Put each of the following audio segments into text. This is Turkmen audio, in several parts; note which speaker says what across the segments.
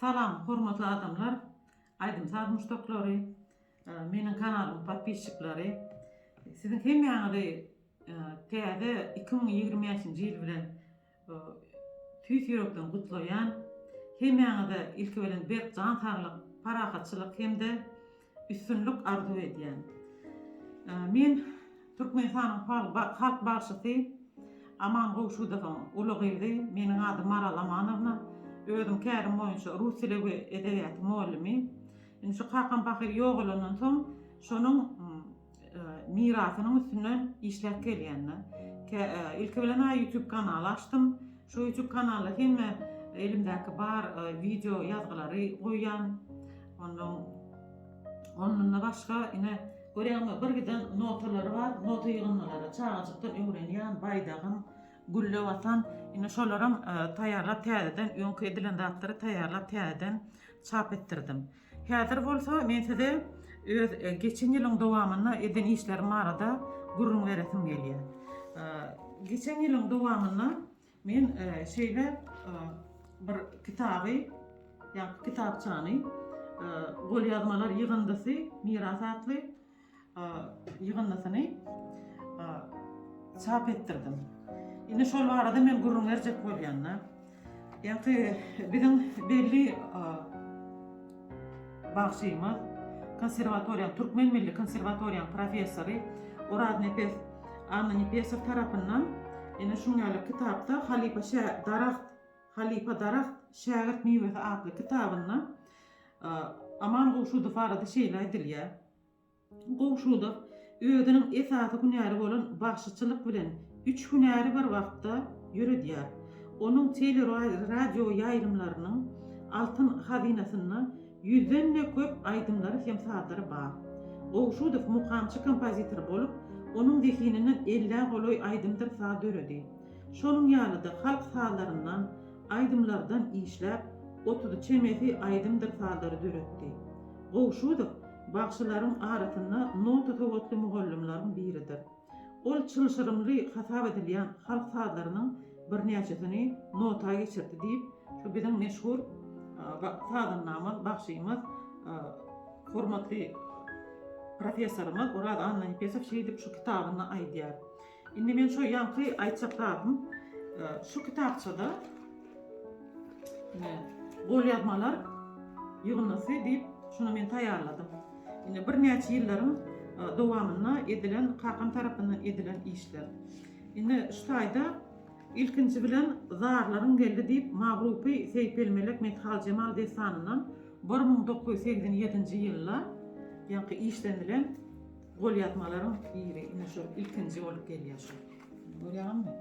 Speaker 1: Salam hormatly adamlar aýdym saz muşdaklary meniň kanalymyň podpisçiklary siziň hemmäňizi täze iki müň ýigrimi bäşinji ýyl bilen tüýs ýürekden gutlaýan hemmäňize ilki bilen berk jan saglyk parahatçylyk hem-de Üstünlik arzuw edýän. Men Türkmenistanyň halk bagşysy Aman Gowşudowyň uly gyzy. Meniň adym Maral Amanowna. Özüm kärim boýunça rus dili we edebiýaty mugallimi. Indi şu kakam pahyr ýogalandan soň şonuň mirasynyň üstünden işläp gelýänler. Ilki bilen ha YouTube kanaly açdym. Şu YouTube kanalda hemme elimdäki bar wideo ýazgylary goýýan. Ondan ondan başga ine görýäňmi bir giden notalary bar. Nota ýygyndylary çagajykdan öwrenýän, baýdagym, gülle watan. Ine şolaram taýýarlap täzeden öňki edilen zatlary taýýarlap täzeden çap etdirdim. Häzir bolsa men size öz geçen ýylyň dowamynda eden işlerim barada gürrüň beresim gelýär. Geçen ýylyň dowamynda men şeýle bir kitaby, ýa kitapçany, golýazmalar ýygyndysy, Miras atly, ýygyndysyny çap etdirdim. Indi şol barada men gürrüň berjek bolýan-da. Ýa-ki biziň belli bagşymyz, konserwatoriýa, Türkmen milli konserwatoriýanyň professory Oradnepes Annanepesow tarapyndan ene şuň ýaly kitapda Halypa şä daragt, Halypa daragt, şägirt miwesi atly kitabynda Aman Gowşudow barada şeýle aýdylýar. Gowşutov özüniň esasy hünäri bolan bagşyçylyk bilen üç hünäri bir wagtda ýöredýär. Onuň tele-radio ýaýlymlarynyň altyn hazynasynda ýüzden-de köp aýdymlary hem sazlary bar. Gowşutow mukamçy-kompozitor bolup, onuň zehininden ellä golaý aýdymdyr saz döredi. Şonuň ýaly-da halk sazlaryndan, aýdymlardan işläp, otuzy çemesi aýdymdyr sazlary döretdi. Gowşudow bagşylaryň arasynda nota sowatly mugallymlaryň biridir. Ol çylşyrymly hasap edilýän halk sazlarynyň birnäçesini nota geçirdi diýip, şu biziň meşhur sazandamyz, bagşymyz, hormatly professorymyz Oraz Annanepesow şeýdip şu kitabynda aýdýar. Indi men şu ýaňky aýtjak zadym, şu kitapçada golýazmalar ýygyndysy diýip, şuny men taýýarladym. Indi birnäçe ýyllaryň dowamynda edilen, kakam tarapyndan edilen işler. Indi şu taýda ilkinji bilen Zarlaryň geldi diýip, Magrupy Seýpelmelek Methaljemal dessanyndan bir müň dokuz ýüz segsen ýedinji ýylda ýaňky işlenilen Golýazmalaryň biri ine şu ilkinji bolup gelýär şu. Görýäňizmi?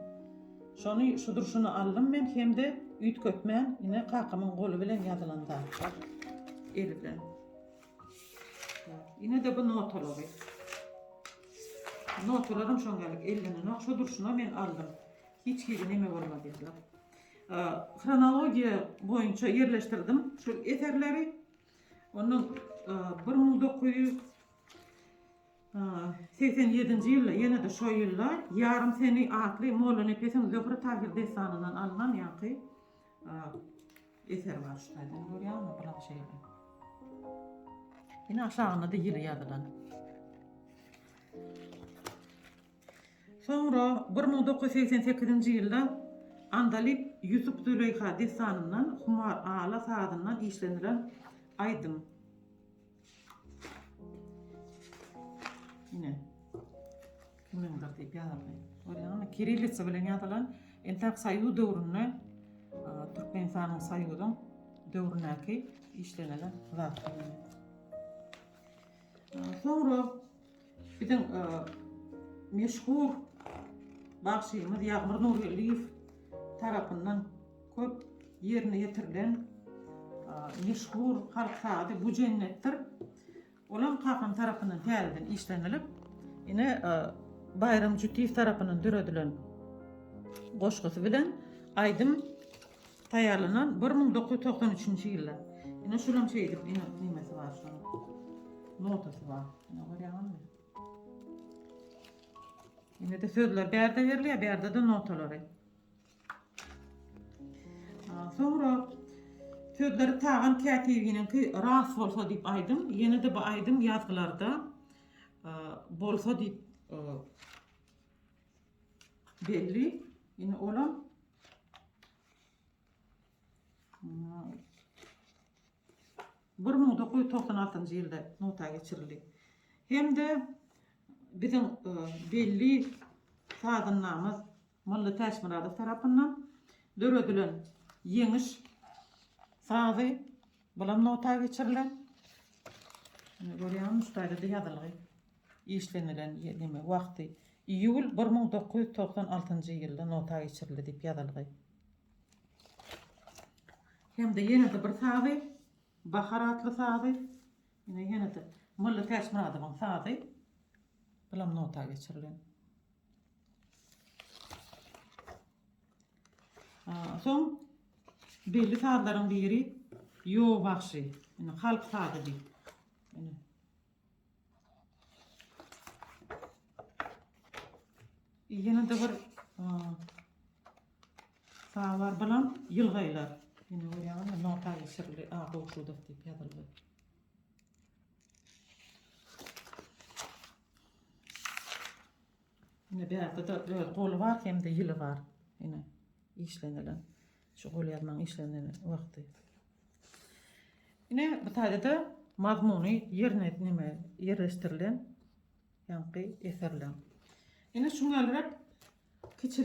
Speaker 1: Şony şu durşuna aldym men hem-de üýtgetmän ine kakamyň goly bilen ýazylan zatlar eli bilen. Ine-de bu notalary. Notalaryň şoňalyk ellenenok, şu durşuna men aldym. Hiç hili neme bolmady ýaly. Hronologiýa boýunça ýerleşdirdim şu eserleri. Ondan 1900 Segsen ýedinji ýylda, ýene-de şo ýylda Ýarym seni atly Mollanepesiň Zöhre Tahyr dessanyndan alnan ýaňky eser bar şu taýdan görýärmi? Bular şeýle. Ýene aşagynda-da ýyly ýazylan. Soňra 1988-nji ýylda Andalyp Ýusup Züleýha dessanyndan Humar ala sazyndan işlenilen aýdym. Ine. Munuň da diýip ýazyldy. Görýäňmi? Kirillisa bilen ýazylan. Entak Soýuz döwründe Türkmenistanyň Soýuzyň döwründäki işlenen zat. Soňra Biziň meşhur bagşymyz Ýagmyr Nurgeldiýew tarapyndan köp ýerine ýetirilen meşhur halk sazy Bu jennetdir. Olam kakam tarapyndan täzeden işlenilip, ine Baýram Jütiýew tarapyndan döredilen goşgusy bilen aýdym Taýýarlanan bir müň dokuz ýüz togsan üçünji ýylda. Ine şulam şeýdip ine nimesi bar şunuň. Notasy bar. Ine görýäňizmi? Ine-de sözler bärde berilýär, bärde-de notalary. Soňra sözleri Tagan kätibiniňki ras bolsa diýip aýdym, ýene-de bu aýdym ýazgylarda e, bolsa diýip e, belli. Ine olam bir müň dokuz ýüz togsan altynjy ýylda nota geçirildi hem-de biziň e, belli sazandamyz Molla Täçmyradow tarapyndan döredilen ýeňiş sazy bulam nota geçirilen. Görýäňiz, şeýle ýazylgy. işlenilen neme wagty iýul bir müň dokuz ýüz togsan altynjy ýylda nota geçirildi diýip ýazylgy. Hem-de ýene-de bir sazy, Bahar atly sazy, ine ýene-de Molla Täçmyradowyň sazy, bulam nota geçirilen. Soň belli sazlaryň biri Ýo bagşy, ine halk sazy diýip, ine Ýene-de bir sabar bilen ýylgaýlar. Ýene görýäňizmi, nota geçirili, a, gowşudyk diýip ýazyldy. Ýene bärde-de öz goly bar hem-de ýyly bar. Ýene işlenilen. Şu golýazmanyň işlenen wagty. Ine, bu taýda-da mazmuny ýerine näme ýerleşdirilen ýaňky eserler. Ine, şuňa geliräk kiçi